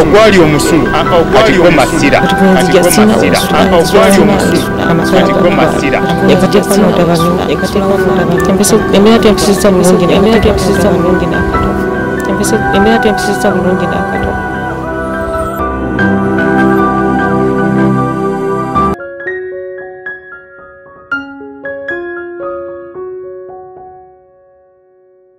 ogwali omusulu kati gwo masira embeera tempisizza bulungi nakatono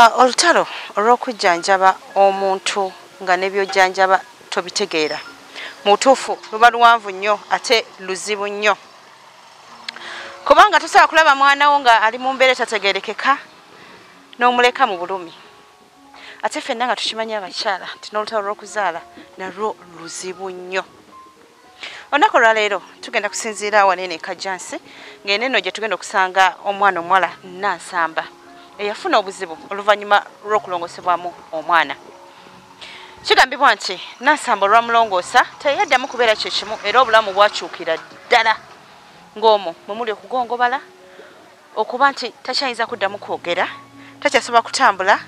Ah, olutalo olw'okujjanjaba omuntu nga nebyojjanjaba tobitegeera mutuufu luba luwanvu nnyo ate luzibu nnyo kubanga tosobola kulaba mwana wo nga ali mu mbeera etategerekeka n'omuleka mu bulumi ate fenna nga tukimanyi abakyala nti n'olutalo lw'okuzaala nalwo luzibu nnyo olunaku olwaleero tugenda kusinziira awanene kajjansi ng'eno eno gye tugenda okusanga omwana omuwala nansamba eyafuna obuzibu oluvannyuma lw'okulongosebwamu omwana kigambibwa nti nansamba olwamulongoosa teyaddamu kubeera kyekimu era obulamu bwakyukira ddala ng'omwo mwe muli okugongobala okuba nti takyayinza kuddamu kwogera takyasobola kutambula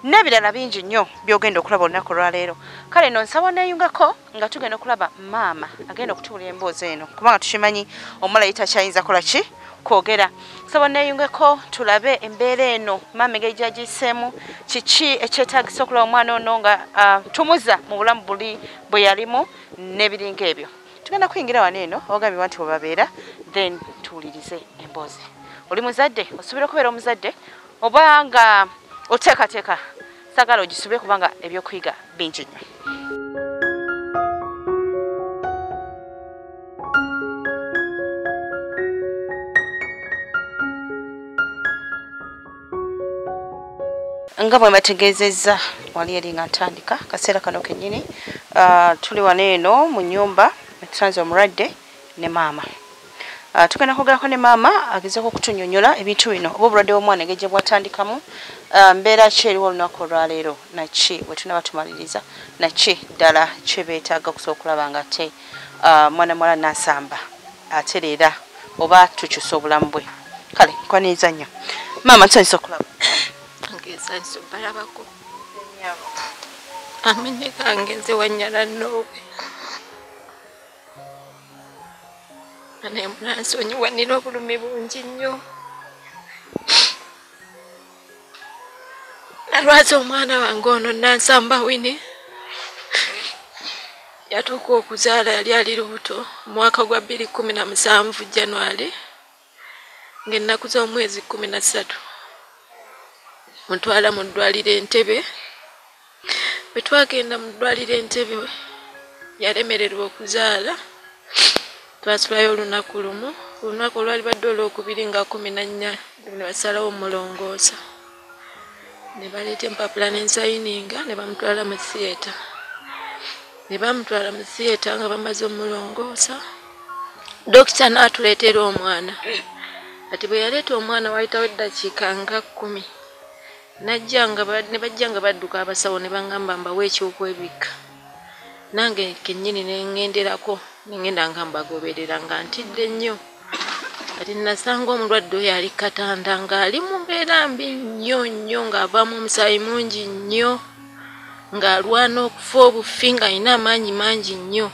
n'ebirala bingi nnyo byogenda okulaba olunaku olwaleero kale no nsaba neyungako nga tugenda okulaba maama agenda okutuula emboozi eno kubanga tukimanyi omulayi takyayinza kola ki kwogera nsaba neyungeko tulabe embeera eno maama engeri gyagiyiseemu kiki ekyetagisa okulaba omwana ono nga ah, tumuza mu bulamu buli bwe yalimu n'ebiringa ebyo tugenda kuyingira wano eno ogambye bantu webabeera then tuwulirize emboozi oli muzadde osuubira okubeera omuzadde oba nga oteekateeka sagala ogisube kubanga ebyokuyiga bingi nnyo nga bwe mbategeezezza wali eri nga ntandika kaseera kano kennyini ah, tuli wano eno mu nyumba etusanze omulwadde ne maama ah, tugenda kwogerako ne maama agezeko okutunyonyola ebintu bino oba obulwadde bwomwana egeje bwatandikamu ah, mbeera ki eriwo olunaku olwaleero naki bwe tunaba tumaliriza naki ddala kyebeetaaga okusobola okulaba nga ate mwana muwala nasamba atereera oba tukyusa obulamu bwe kale nkwaniriza nnyo maama nsanyusa okulaba ngesanyusa obalabako amene kange nze wanyala noowe naye munansonyiwanira obulumi bungi nnyo nalwaza omwana wange ono nansamba wini yatuuka okuzaala yali ali lubuto omwaka gwa bbiri kumi na musanvu january ngaennaku z'omwezi kumi na ssatu mutwala mu ddwaliro entebe bwe twagenda mu ddwaliro entebe yalemererwa okuzaala twasulayo olunaku lumu olunaku olwali badde olwokubiri nga kumi nannya nebasalawo omulongoosa ne baleeta empapula nensayininga ne bamutwala mu theatre ne bamutwala mu theatre nga bamaze omulongoosa dokita n'atuleetera omwana kati bwe yaleeta omwana wayitawo eddakiika nga kkumi Najja nga ba, ne bajja nga badduka abasawo ne bangamba mbawe eky'okwebikka. Nange kennyini ne ŋŋenderako ne ŋŋenda nga mbagoberera nga ntidde nnyo. Kati nnasanga omulwadde oyo ali ku katanda ng'ali mu mbeera mbi nnyo nnyo ng'avaamu omusaayi mungi nnyo ng'alwana okufa obufi ng'alina amaanyi mangi nnyo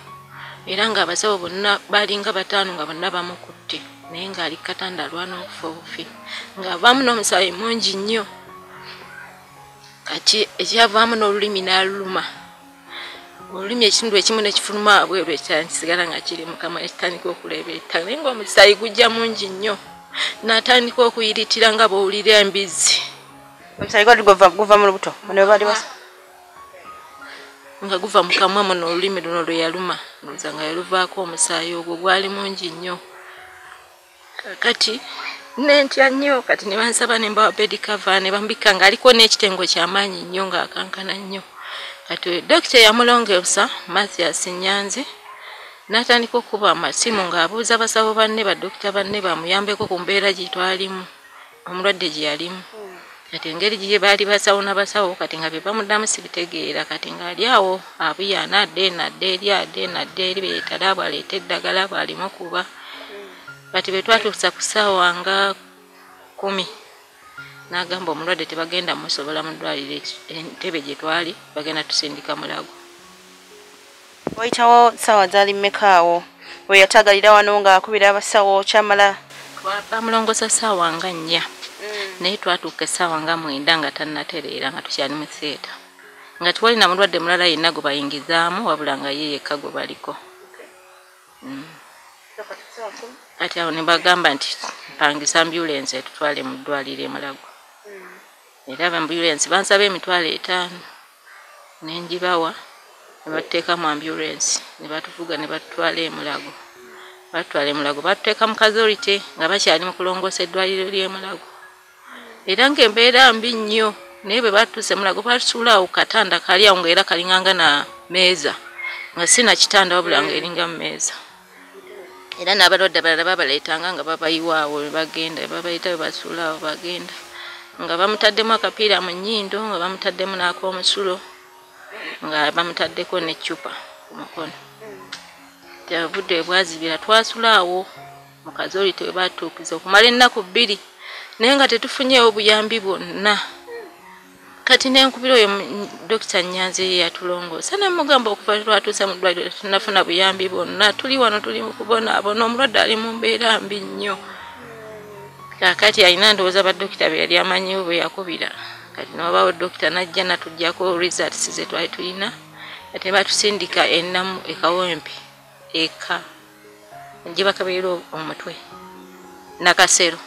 era ng'abasawo bonna baalinga bataano nga bonna bamukutte. naye ng'ali ku katanda alwana okufa obufi ng'avaamu n'omusaayi mungi nnyo kati ekyavaamu n'olulimi n'aluluma olulimi ekitundu ekimu nekifuluma abweru ekitala nikisigala nga kiri mukama ekitandika okuleebeeta naye ngaomusaayi gujja mungi nnyo natandika okuyiritira nga bowulira embizzi omusaayi gwa guva mu lubuto nga guva mu kamwa muno olulimi luno lwe yaluma ndoza nga yaluvaako omusaayi ogwo gwali mungi nnyo kakati nentya nnyo kati ne bansaba ne mbawa bedi kava ne bambikka ng'aliko n'ekitengo kyamaanyi nnyo ng'akankana nnyo kati dokita eyamulongeosa mathias nyanzi n'atandika okukuba amasimu ng'abuuza basawo banne badokita banne bamuyambeko ku mbeera gye twalimu omulwadde gye yalimu kati engeri gye baali basawo na basawo kati nga bye bamuddamu sibitegeera kati ng'ali awo abuyaana adde eno adde eri adde eno adde eri be yeetale abo aleeta eddagala abo alimu kuba kati bwe twatuusa ku ssaawa nga kumi n'agamba omulwadde tebagenda musobola mu ddwaliro entebe gye twali bagenda tusindika mulago Wayitawo ssaawa zaali mmeka awo we yataagalira wano ng'akubira abasawo kyamala? Bamulongoosa ssaawa nga nnya mm. naye twatuuka essaawa nga mwenda nga tannatereera nga tukyali mu theeta nga tiwali na mulwadde mulala yenna gwe bayingizaamu wabula nga ye yekka gwe baliko mm. kati awo ne bagamba nti mpangisa ambulensi etutwale mu ddwaliro emulago mm. era abambulensi bansaba emitwalo etaano ne ngibawa ne batuteeka mu ambulensi ne batuvuga ne batutwala emulago batutwala emulago batuteeka mu kazorite nga bakyali mu kulongoosa eddwaliro ly'emulago era ng'embeera mbi nnyo naye bwe batuuse mulago batusuula awo katanda kali awo ngaera kalinganga na meeza nga si na kitanda wabula ngaeringa mu meeza era n'abalwadde abalala babaleetanga nga babayiwaawo bagenda babayita we basuula awo bagenda nga bamutaddemu akapiira mu nnyindo nga bamutaddemu n'ak'omusulo nga bamutaddeko n'eccupa ku mukono teyavudde ebwazibira twasula awo mu kazooli tebatuukiza okumala ennaku bbiri naye nga tetufunyeewo buyambi bwonna kati nenkubira oyo dokita nyanzi yeyatulongoosa nemugamba okuva lwatuuse mu ddwaliro tunafuna buyambi bwonna tuli wano tuli mukubonaabona omulwadde ali mu mbeera mbi nnyo kakati alina ndowooza badokita be yali amanyiwo bwe yakubira kati newabaawo dokita najja natugyako results zetwali tulina ate batusindika enamu ekawempe eka njebakabeera omutwe nakasero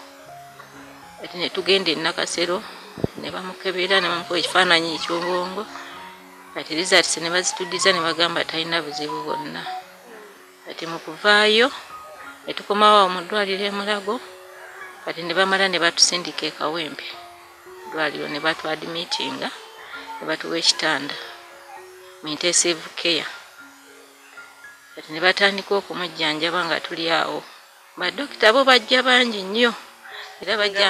ati netugenda enakasero nebamukebera nebamukuba ekifaananyi ekyobwongo ati results nebazitudiza nebagamba talina buzibu bwonna ati mukuvaayo netukomawo awo mu ddwaliro emulago kati nebamala nebatusindika ekawempe ddwaliro nebatwadimitinga nebatuwa ekitanda mu intensive care kati ne batandika okumujjanjaba nga tuli awo badokita bo bajja bangi nnyo era bajja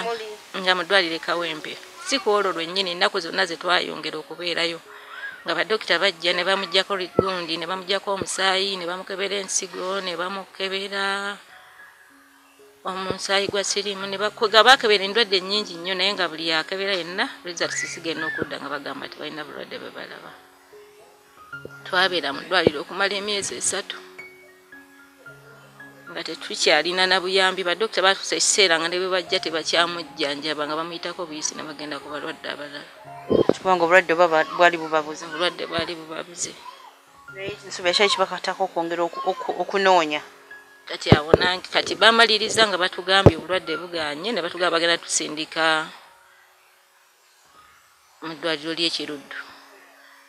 nga mu ddwaliro ekawempe si ku olwo lwennyini ennaku zonna ze twayongera okubeerayo nga badokita bajja ne bamugyako gundi ne bamugyako omusaayi ne bamukebera ensigo ne bamukebera omusaayi gwa siriimu ne bakuga bakebera endwadde nnyingi nnyo naye nga buli akebera yenna results zigenda okudda nga bagamba tebalina bulwadde bwe balaba twabeera mu ddwaliro okumala emyezi esatu nga tetukyalina na buyambi badokita batusa ekiseera nga ne bwe bajja tebakyamujjanjaba nga bamuyitako obuyisi ne bagenda ku balwadde abalala kubanga obulwadde bwali bubabuze obulwadde bwali bubabuze nsobi ekyali kibakatako okwongera okunoonya kati awo nange kati bamaliriza nga batugambye obulwadde buganye ne batugamba bagenda tusindika mu ddwaliro ly'e Kiruddu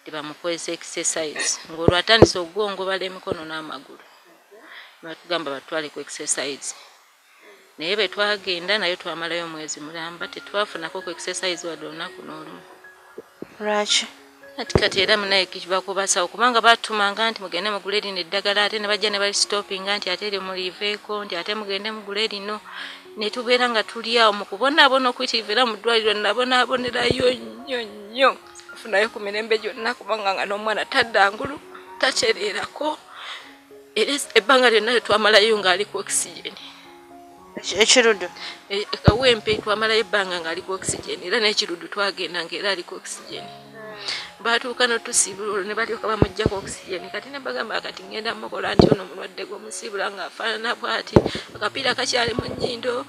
nti bamukozesa exercise ng'olwo atandise okugongobala emikono n'amagulu ne batugamba batutwale ku exercise naye bwe twagenda nayo twamalayo omwezi mulamba tetwafunako ku exercise wadde olunaku n'olumu. Lwaki? ati kati era munaye kibakubasawo kubanga batumanga nti mugende mugule lino eddagala ate nebajja nebalisitopinga nti ate eryo muliiveeko nti ate mugende mugule lino netubeera nga tuli awo mukubonaabona okuyitiriva era mu ddwaliro nabonaabonerayo nnyo nnyo afunayo ku mirembe gyonna kubanga nga n'omwana tadda ngulu takyereerako era ebbanga lyonna lyetwamalayo ngaali ku okisiyeni ekirudu e, kawempe twamalayo ebbanga ng'aliko oxygen era n'ekirudu twagenda ng'era aliko oxygen baatuuka notusiibula olwo ne balyoka bamuggyako oxygen kati ne bagamba kati ngenda mukola nti ono mulwadde gwomusiibula ng'afaanana bwati akapiira kakyali mu nnyindo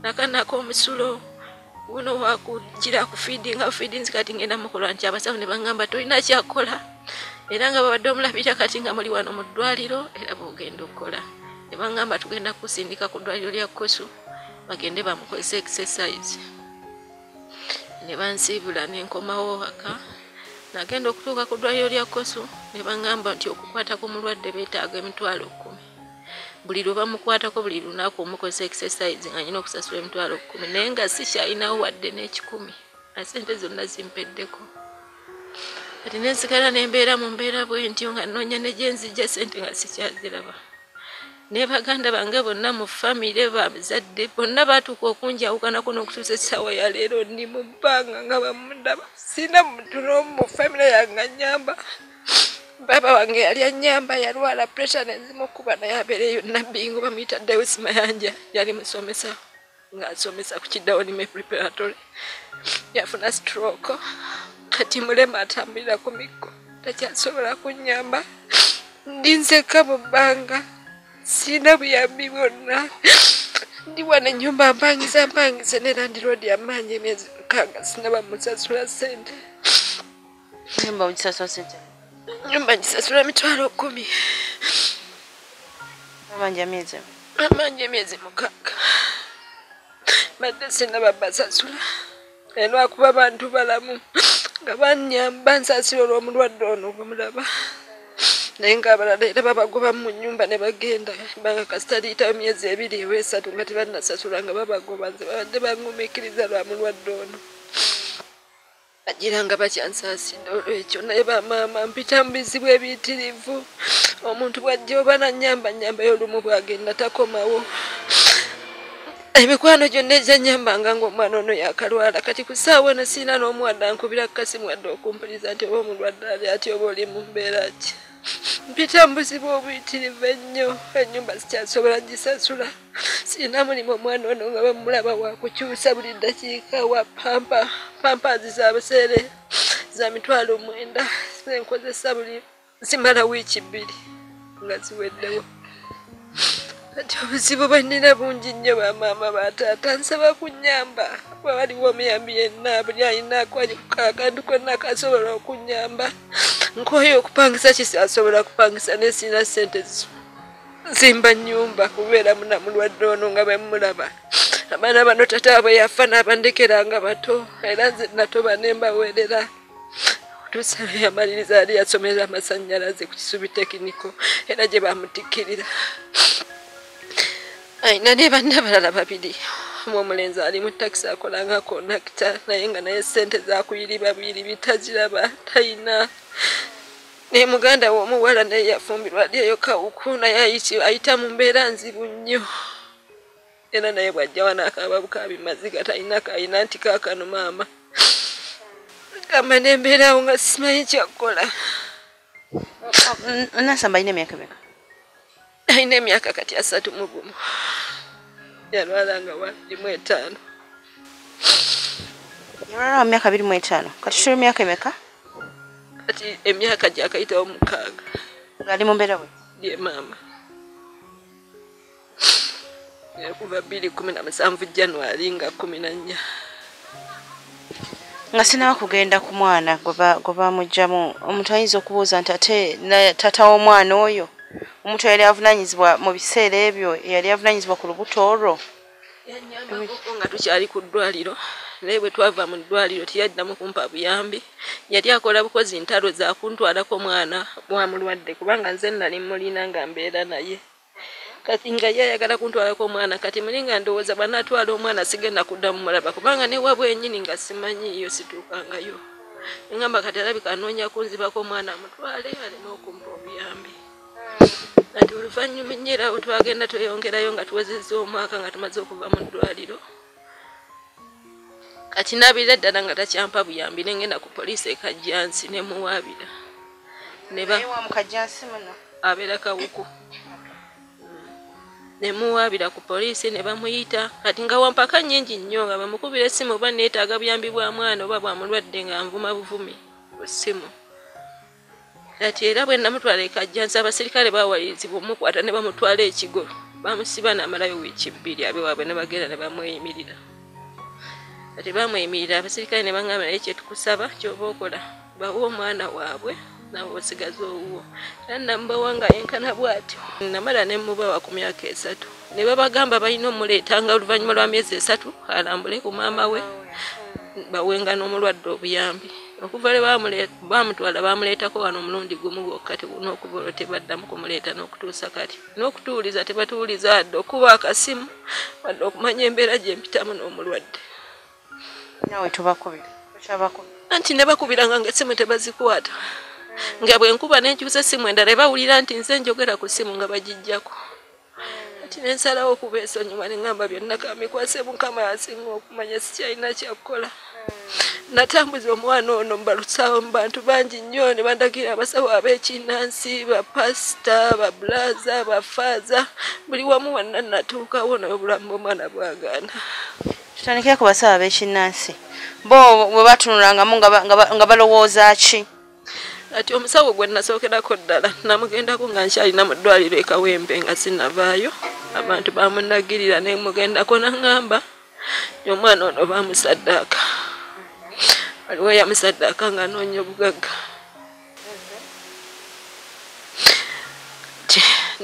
nakanako omusulo wuno wakujira ku feeding awo feedings kati ngenda mukola nti abasawo ne bangamba tolina kyakukola era nga babadde omulabira kati nga muli wano mu ddwaliro era bwogenda okukola ne bangamba tugenda kukusindika ku ddwaliro lya kusu bagende bamukozesa exercise ne bansiibula ne nkomawo waka nagenda okutuuka ku ddwaliro lya kosu ne bangamba nti okukwata ku mulwadde beetaaga emitwalo kkumi buli lwe bamukwatako buli lunaku omukozesa exercise nga nyina okusasula emitwalo kumi naye nga sikyalinawo wadde n'ekikumi asente zonna zimpeddeko kati nensigala nembeera mu mbeera bwentyo nga nnoonya ne gyenzijja sente nga sikyaziraba ne baganda bange bonna mu famire babazadde bonna baatuuka okunjawukanako n'okutuusa essaawa ya leero ndi mu bbanga nga bamundaba sina muntu n'omu mu famire yange anyamba baba wange yali anyamba yalwala pressure nezimukuba naye abeereyo nabbi ngo bamuyita dawis mayanja yali musomesa ng'asomesa ku kidawonime preparatory yafuna stroke kati mulema atambulira ku mikko takyasobola kunyamba ndi nzekka mu bbanga sirina buyambi bwonna ndi wano ennyumba mpangiza mpangize ne landiroodi amaanyi emyezi mukaaga sinaba musasula ssente Nyumba ujisasula sente. Nyumba ujisasula mitwalo kumi. Mama nja miezi. Mama nja miezi mukaka. Mada sina baba sasula. Eno akuba bantu balamu. Nga banyamba nsasula olwo mulwadde ono kumulaba. naye ngaabalala era babagoba mu nyumba ne bagenda banga kasita liyitayo myezi ebiri ewa esatu nga tebannasasula nga babagoba nze babadde bangumikiriza lwa mulwadde ono bagira nga bakyansaasidde olwekyo naye bamaama mpita mu bizibu ebiyitirivu omuntu bwajja oba nanyamba nyamba yolumu bwagenda takomawo emikwano gyonna egyanyambanga ngaomwana ono yakalwala kati ku saawa eno siina n'omuwadde ankubira kukasimu wadde okumpuliza nti oba omulwadde ali ati oba oli mu mbeera ki mpita mu buzibu obuyitirivu ennyo ennyumba sikyasobola gisasula sirina mulimu omwana ono nga bamulaba wakukyusa buli ddakiika wa pampa pampazi za buseere za mitwalo omwenda zenkozesa buli zimala wiiki bbiri nga ziweddewo kati obuzibu bwe nnina bungi nnyo bamaama bataata nsaba kunyamba kuba waliwo omuyambi yenna buli alina akantu konna kasobola okunyamba nkooyo okupangisa kisi asobola kupangisa naye sirina ssente zisobola nzimba nyumba kubeera muna mulwadde ono nga bwemulaba abaana bano tata abwe yafa n'abandekera nga bato era nze natoba ne mbaweerera otusabe yamaliriza yali yasomera amasannyalaze ku kisubi tekiniko era gye bamutikkirira alina ne banna balala babiri omu omulenzi ali mu takisi akola nga konakita naye nga naye ssente zakuyiriba buyiribi taziraba talina naye muganda we omuwala naye yafumbirwa ali eyo kawuku naye ayita mu mbeera nzibu nnyo era naye bwajja wanaakababukabimaziga talina kalina nti kaakano maama gamba nembeeraawo nga simanyi kyakukola nasamba alina emyaka meka alina emyaka kati asatu mu gumu yalwala nga walimu etaano yalwala mu myaka biri mu etaano kati tuli myaka emeka kati emyaka gyakayitawo mukaaga ngaali mu mbeera bwe ye maama kuva bbiri kumi na musanvu january nga kumi na nnya nga sinawa kugenda ku mwana gwe bamugjamu omuntu ayinza okubuuza nti ate tata w'omwana oyo omuntu yali avunanyizibwa mu biseera ebyo yali avunanyizibwa ku lubuto olwo nga tukyali ku ddwaliro naye bwe twava mu ddwaliro teyaddamu kumpa buyambi yali akola bukozi ntalo zakuntwalako omwana wa mulwadde kubanga nze nali mulina nga mbeera naye kati nga ye ayagala kuntwalako omwana kati muli nga ndowooza bwanatwala omwana sigenda kuddamu mulaba kubanga ne wabwe enyini nga simanyiiyo situukangayo engamba kati alabika anoonya kunzibako omwana amutwale aleme okumpa obuyambi kati oluvannyuma ennyera awo twagenda tweyongerayo nga tuwezezza omwaka nga tumaze okuva mu ddwaliro kati nabira ddala nga takyampa buyambi nengenda ku poliisi ekajjansi nemuwaabira abeera kawuku nemuwaabira ku poliisi ne bamuyita kati nga wampaka nnyingi nnyo nga bamukubira essimu oba neetaaga buyambi bwa mwana oba bwa mulwadde nga nvuma buvumi ku ssimu Kati era bwe namutwala e Kajjansi abasirikale baawalirizibwa omukwata ne bamutwala e Kigo bamusiba n'amalayo wiiki bbiri abe waabwe ne bagenda ne bamweyimirira. Kati bamweyimirira abasirikale ne bangamba naye kye tukusaba ky'oba okola bawe omwana waabwe nawe osigaza owuwo era namubawa nga yenkana bw'ati namala ne mubawa ku myaka esatu ne babagamba balina omuleeta nga oluvannyuma lwa myezi esatu alambule ku maama we bawenga n'omulwadde obuyambi. okuva lwe bamutwala baamuleetako wano omulundi gumu gwokka n'okuva olwo tebaddamu kumuleeta n'okutuusa kati n'okutuwuliza tebatuwuliza adde okuba akasimu wadde okumanya embeera gye mpitamu n'omulwadde nawe tubakubira anti ne bakubiranga nga essimu tebazikwata nga bwe nkuba n'enkyusa essimu endala ebawulira nti nze njogera ku ssimu nga bagijjako kati nensalawo okuba esonyiwa neŋamba byonna kamikwase mukama yasinga okumanya sikyalina kyakukola natambuza omwana ono mubalusawo mu bantu bangi nnyo ne bandagira abasawo abekinnansi bapasita babulaza bafaaza buli wamu wanna natuukawo naye obulamu bwomwana bwagaana tutandikire ku basawo abekinnansi bo bwe batunulangamu nga balowooza ki kati omusawo gwe nasookerako ddala namugendako nga nkyalina mu ddwaliro ekawembe nga sinavaayo abantu bamunagirira nemugendako nangamba omwana ono bamusaddaaka waliwo yamusaddaaka nga anoonya obugagga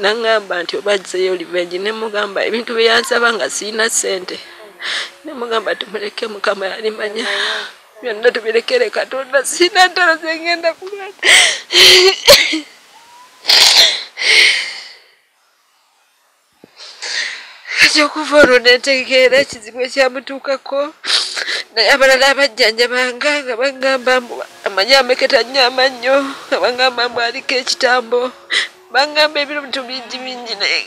nangamba nti obajjeyo livengi nemugamba ebintu byeyansaba nga sirina ssente nemugamba timuleke mukama yalimanya byonna tubirekere katonda sirina ntalo zengenda kulwana kati okuva olwo nentegeera ekizibu ekyamutuukako naye abalala abajjanjabanga nga bagamba mbu amanyi ameketa nnyo amannyo nga bagamba mbu aliko ekitambo bangamba ebintu bingi bingi naye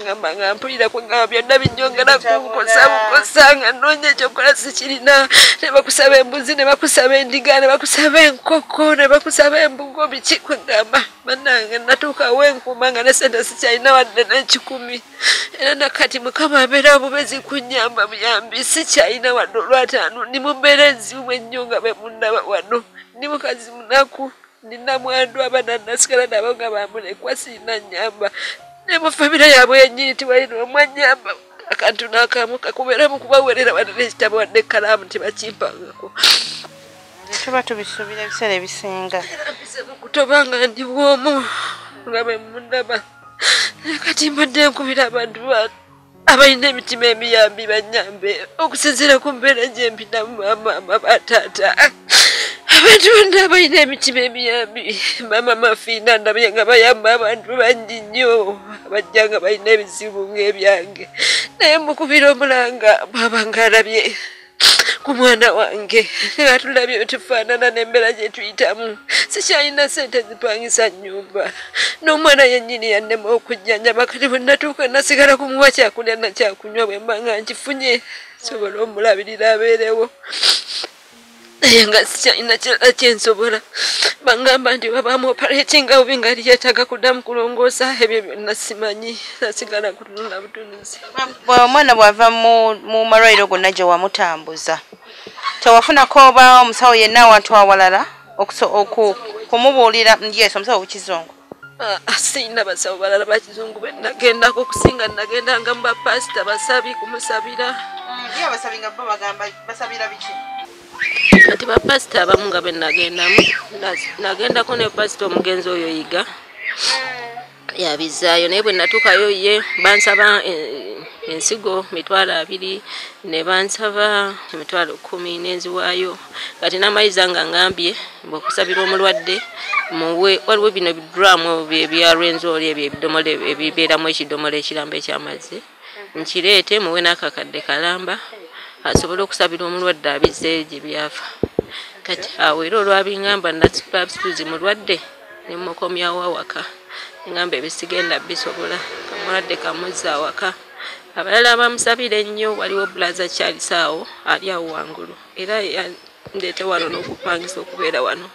ngamba nga mpulira kwegamba byonna binyongera kunkosa bukosa nga noonya ekyokukola sikirina ne bakusaba embuzi ne bakusaba endiga ne bakusaba enkoko ne bakusaba embugo biki kwegamba banange natuukawo enkuuma nga ne sente sikyalina wadde n'ekikumi era nakati mukama abeera bubezi kunyamba buyambi sikyalina wadde olwataano ndi mumbeera enzibu ennyo nga bemundaba wano ndi mukazi munaku ndi namwandu abana nasigala nabo nga bamulekwa siina nyamba ne mu famire yaabwe yenyiyitibwa yino omwanyamba akantu nakamu kakubeera mu kubawerera wadde nekitabo wadde ekkalaamu tebakimpangako tuba tubisuubira ebiseera ebisinga kutoba nga ndi bwomu nga bemundaba kati mbadde nkubira abantu batu abalina emitima emiyambi banyambe okusinziira ku mbeera gyempinamu maama mama taata abantu bonna abalina emitima emiyambi maama mafiina ndabye nga bayamba abantu bangi nnyo abajja nga balina ebizibu ng'ebyange naye mukubira omulanga bwaba nga alabye ku mwana wange nga tulabye byetufaanana n'embeera gye tuyitamu sikyalina sente zipangisa nnyumba n'omwana yennyini yannema okujjanjaba kati bwe natuuka nasigala kumuwa kyakulya na kyakunywa bwe mba nga nkifunye sobola omulabirira abeerewo naye nga sikyalina kirala kye nsobola bangamba nti babaamu operatinga bubi nga liyetaaga kuddamu kulongoosa ebyo byonna simanyi nasigala ku omwana bwava mu malwaliro gonna gye wamutambuza tewafunako oba omusawo yenna awantu awalala kumubuulira yes omusawo wekizungu ah, ah, siyina basawo balala bakizungu benagendako okusinga nagenda nga mubapasita basabi kumusabira kati bapasita abamu nga benagendamu nagendako ne pasita omugenzi oyo yiga hmm. yabizzaayo naye bwe natuukayo ye bansaba eh, ensigo mitwalo abiri ne bansaba emitwalo kumi nenziwaayo kati namayiza nga ngambye bwekusabira omulwadde muwe waliwo bino biduramu byalwenzooli ebyo ebidomola ebibeeramu ekidomola ekiramba ekyamazzi nkireete muwe n'akakadde kalamba asobole okusabira omulwadde abizze gye byafa kati awo era olwabingamba nasipabsituzi mulwadde ne mmukomyawo awaka ne ŋŋamba ebyo sigenda bisobola kamulwadde kamuzza awaka abalala abamusabira ennyo waliwo bulaza charles awo ali awo wangulu era yandeete wano n'okupangisa okubeera wano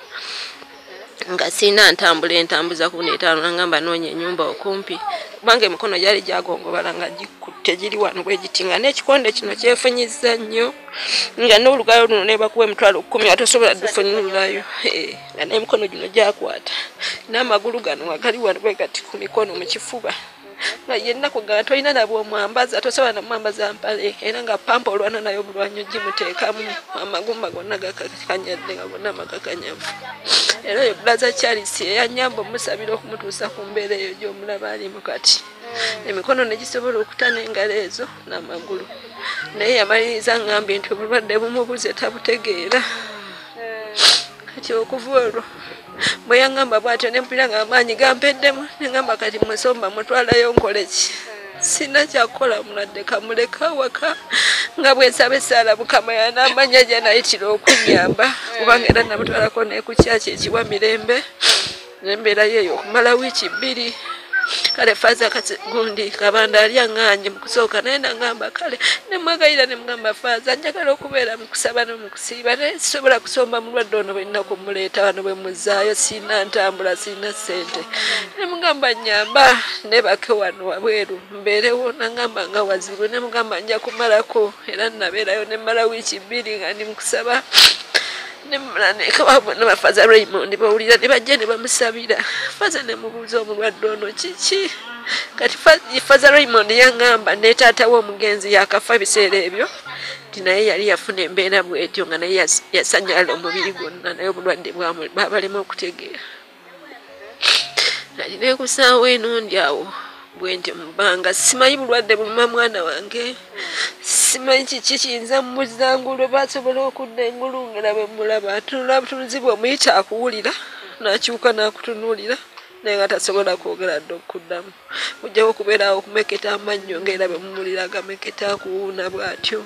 nga sirina ntambula entambuza ku neetaano nangamba noonya ennyumba okumpi kubanga emikono gyali gyagongobala nga gikutte giri wano bwe giti nga n'ekikonde kino kyefunyizza nnyo nga n'olugalo luno nebakuwa emitwalo kkumi atosobola dufunyululayo eh. nga n'emikono gino gyakwata n'amagulu gano nga gali wano bwe gati ku mikono mu kifuba nga yennaku nga tolina na bwomwambaza tosobola namwambaza mpale era nga pampa olwana nayo obulwanyo gimuteekamu amagumba gonna gakakanyadde nga gonna amakakanyavu era oyo bulaza charles eyanyamba omusabira okumutuusa ku mbeera eyo gyomulaba alimu kati emikono negisobola okuta n'engalo ezo n'amagulu naye yamaliriza ngambye nti obulwadde bumubuze tabutegeera kati okuva olwo bwe yaŋŋamba bw'atyo ne mpulira ng'amaanyi gampeddemu ne ŋŋamba kati musomba mutwalayo nkole ki sina kyakukola muladde kamuleka waka nga bwensaba esaala mukama yanaamanya gyanayitira okunyamba kubanga era namutwalako nekukyakyo ekiwa mirembe nembeerayo eyo okumala wiiki bbiri kale faaza kati gundi kabanda ali aŋŋaanye mu kusooka naye nangamba kale nemwegayira ne mugamba faaza njagala okubeera mu kusaba ne mu kusiiba naye sisobola kusomba mulwadde ono bwenina kumuleeta wano bwe muzaayo sirina ntambula sirina ssente ne mugamba nyamba nebake wano wabweru mbeerewo nangamba nga wazibu ne mugamba nja kumalako era nabeerayo ne mmala wiiki bbiri nga ndi mu kusaba ne mumala nekawabwe ne bafaza raymond bawulira ne bajja ne bamusabira faza ne mubuuza omulwadde ono kiki kati faza raymond yangamba ne taata we omugenzi yakafa ebiseera ebyo nti naye yali yafuna embeera bwetyo nga naye yasanyala omubiri gwonna naye obulwadde babalema okutegeera nali nekusaawo eno ndi awo bwendi mubbanga simanyi bulwadde buluma mwana wange simanyi kiki kiyinza mumuzangulu basobola okudda engulu ngera bwemulaba atunula butunuzibu omuyita akuwulira nakyuka nakutunuulira naye nga tasobola kwogera dde okuddamu ojjawo okubeeraawo okumeketa amannyo ngaera bemumulira agameketa akuwuuna bwatyo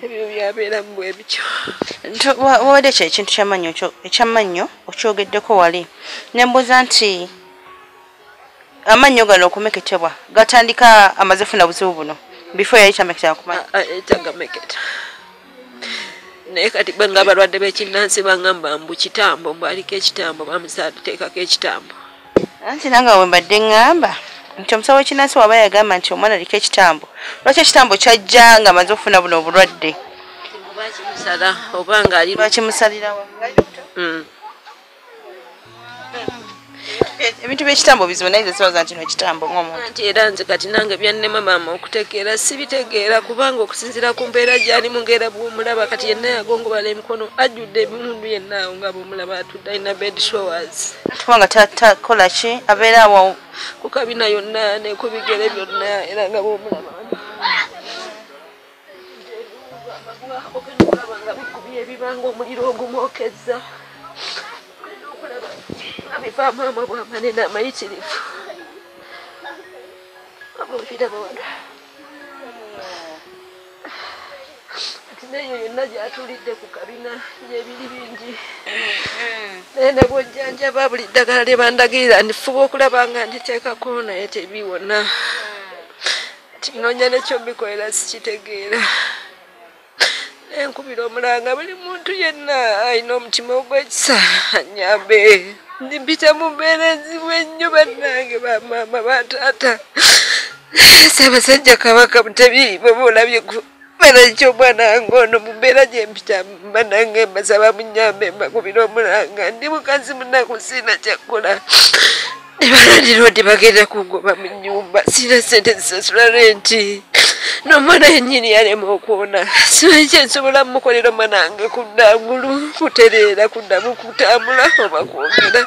ebyo byabeera mu bwebityo wabadde kyo ekintu kyamannyo ekyamannyo okyogeddeko wali nembuuza nti amannyo gano okumeketebwa gatandika amaze funa buzibu buno bifo yali tameketa kumaetyagameketa ah, eh, naye kati bwe nga abalwadde b'ekinnansi bangamba mbu kitambo mbwaliko ekitambo bamusateekako ekitambo anti nange we mbadde ŋŋamba nti omusawo wekinansi waba yagamba nti omwana aliko ekitambo lwaki ekitambo kyajja nga amaze okufuna buno obulwadde mm. ebintu byekitambo bizibu naye zesibaza nti nekitambo ngomuntu era nze kati nange byannema maama okutegeera sibitegeera kubanga okusinzira ku mbeera gyali mu ngeera bwomulaba kati yenna yagongobala emikono ajjudde ebimundu yennaawo nga bwomulaba talina bed showers kubanga takola ki abeera awo ku kabina yonna ne ku bigere byonna era nga bwomulaba ebibanga omuliro ogumwokezza abivaamu ama bwamanene amayitirivu abulira bawala neyo yonna gyatulidde ku kabina yebiri bingi mm-hmm. naye ne bwojjanjaba buli ddagala lye bandagirira ndifuba okulaba nga nditeekako naye tebiwona mm. kinonya nekyo bikolera sikitegeera nenkubira omulanga buli muntu yenna alina omutima ogwekisa anyambe ndimpita mu mbeera enzibu ennyo bannange bamaama bataata sabasajja kabaka mutebi bweba olabye kubera ki omwana wange ono mu mbeera gyempita banange mbasaba munyambe mbakubira omulanga ndi mukazi munaku siina kyakkola nebalandiroodi bagenda kungoba mu nyumba sina sente zisasula renti nomwana yenyini yalema okwona simanyi kyensobola mumukolera omwana wange kuddangulu kutereera kuddamu kutambula oba kwogera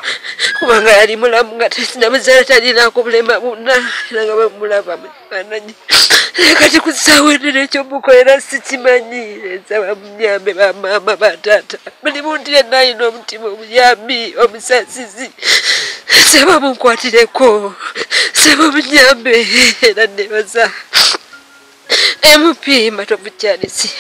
kubanga yali mulamu nga tinamuzaala talinako bulema buna era nga bamulaba kifaananyi naye kati ku ssaawa eno nekyomukolera sikimanyi ensaba munyambe bamaama bataata buli muntu yenna alina omutima omuyambi omusasizi nsaba munkwatireko nsaba munyambe era nebaza mp matovu kyalisi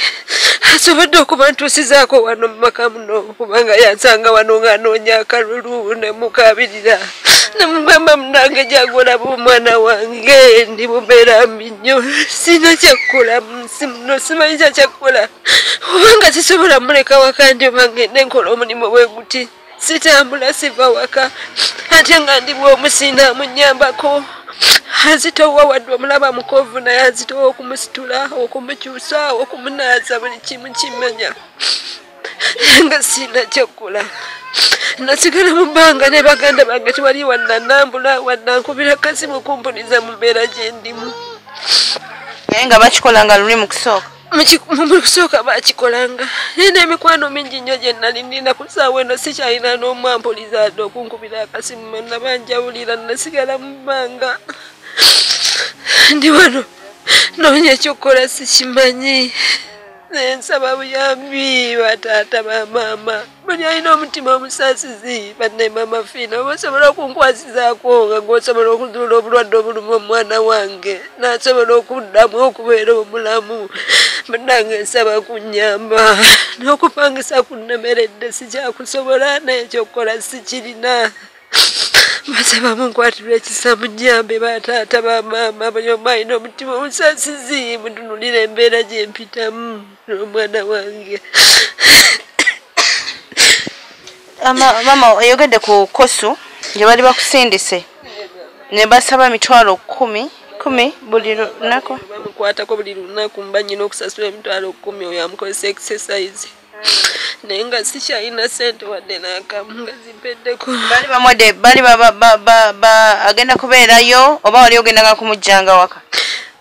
asobodde okuba ntuusizaako wano mu maka muno kubanga yansanga wano ng'anoonya akalulu ne mukabirira namugamba munange jagolaba omwana wange ndi mubeera mbi nnyo sirina kyakkola munsi muno simanyi kya kyakkola obanga sisobola muleka waka ndi obangende nkola omulimu bwe guti sitambula siva waka ate nga ndi bwomusiina munyambako azitowa wadde omulaba mukovu naye azitowa okumusitula okumukyusa okumunaaza buli kimu kimanya nga sirina kyaggula nasigala mu bbanga ne baganda bange tewali wannanambula wannankubira kasimu kumpuliza mu mbeera gye ndimu naye nga bakikola nga luli mu kusooka mu kusooka bakikolanga naye n'emikwano mingi nnyo gye nali nina ku saawa eno sikyalina n'omu ampuliza adde okunkubira akasimu nabanjawulira nasigala mu bbanga ndi wano noonya ekyokukola sikimanyi nensaba buyambi bataata bamaama buli alina omutima omusasizi banne maama fiina oba osobola okunkwasizaako nga gwosobola okuzuula obulwadde obuluma omwana wange nasobola okuddamu okubeera omulamu banange nsaba kunyamba n'okupangisa kunnemeredde sikyakusobola naye ekyokukola sikirina maze bamunkwatira ekisa munyambe bataata bamaama buli omu alina omutima omusasizi mutunulira embeera gyempitamu n'omwana wange maama oyogedde ku kosu gye bali bakusindise ne basaba mitwalo kumi kumi buli lunaku bamukwatako buli lunaku mba nyina okusasula emitwalo kumi oyo amukozesa exercise naye nga sikyalina sente wadde nakamu nga zimpeddeko bali bamwede bali agenda kubeerayo oba wali ogendanga kumujjanga waka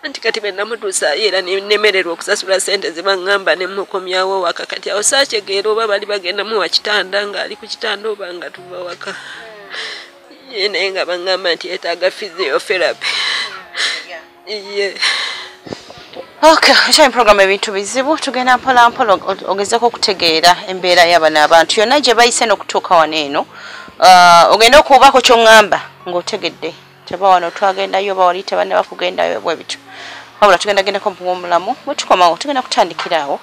anti kati benamutuusayo era nemererwa okusasula sente zebangamba nemukomyawo waka kati awo sakyegeera oba bali bagenda muwa kitanda ngaali ku kitanda oba nga tuva waka naye nga bangamba nti yetaaga physiotherapy iye Okay, nkyali program ebintu bizibu tugenda mpola mpola ogezeko okutegeera embeera yabano abantu yonna gye bayise n'okutuuka wano eno uh, ogenda okuubako kyoŋŋamba ng'otegedde teba wano twagendayo oba wali tebanne bakugendayo bwe bityo wabula tugenda gendako mpuwa omulamu bwe tukomawo tugenda kutandikira awo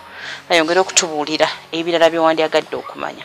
ayongere okutubuulira ebirala byewandyagadde okumanya